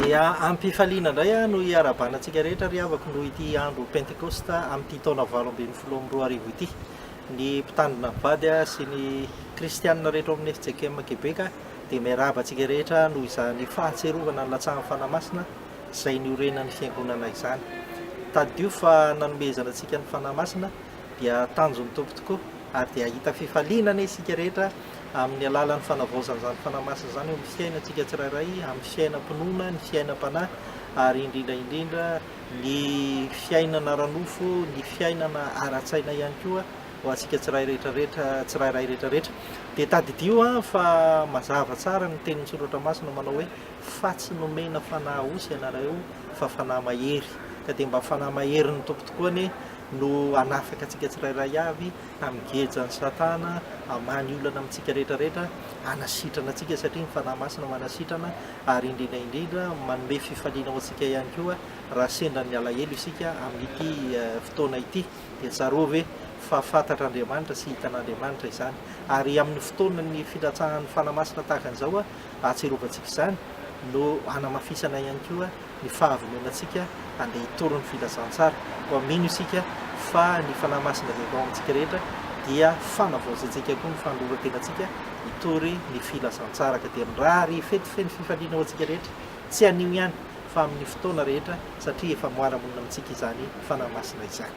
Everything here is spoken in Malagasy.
Dia amim-pifaliana indray aho no iarahabana antsika rehetra ry havako noho ity andro Pentekosta amin'ity taona valo ambin'ny folo amby roa arivo ity. Ny mpitandrina mivady sy ny kristiana rehetra ao amin'ny fjkm Québec dia miarahaba antsika rehetra noho izany fahatsiarovana ny latsahan'ny Fanahy Masina izay niorenan'ny Fiangonana izany. Tadidio fa nanomezana antsika ny Fanahy Masina dia tanjon'ny Tompo tokoa, ary dia hahita fifaliana anie isika rehetra amin'ny alalan'ny fanavaozan'izany Fanahy Masina izany eo amin'ny fiainantsika tsirairay, amin'ny fiainam-pinoana, ny fiainam-panahy, ary indrindra indrindra ny fiainana ara-nofo, ny fiainana ara-tsaina ihany koa ho antsika tsirairay rehetrarehetra, tsirairay rehetrarehetra. Dia tadidio an, fa mazava tsara ny tenin'ny Soratra Masina manao hoe, Fa tsy nomena fanahy osy ianareo, fa fanahy mahery. Ka dia mba fanahy maherin'ny Tompo tokoa anie, no hanafaka antsika tsirairay avy amin'ny gejan'i Satana, hamany olana amintsika rehetrarehetra, hanasitrana antsika satria ny Fanahy Masina manasitrana, ary indrindra indrindra manome fifaliana ho antsika ihany koa raha sendra ny alahelo isika amin'ity fotoana ity. Dia tsaroa ve fa fantatr'Andriamanitra sy hitan'Andriamanitra izany. Ary amin'ny fotoanan'ny fitratsahan'ny Fanahy Masina tahaka an'izao, ahatserovantsika izany, no hanamafisana ihany koa ny fahavonoanantsika handeha hitory ny filazantsara, koa mino isika fa ny Fanahy Masina izay atao amintsika rehetra dia fanavaozantsika koa ny fanolorantenantsika hitory ny filazantsara, ka dia mirary fety feno fifaliana ho antsika rehetra, tsy anio ihany fa amin'ny fotoana rehetra, satria efa moara monina amintsika izany Fanahy Masina izany.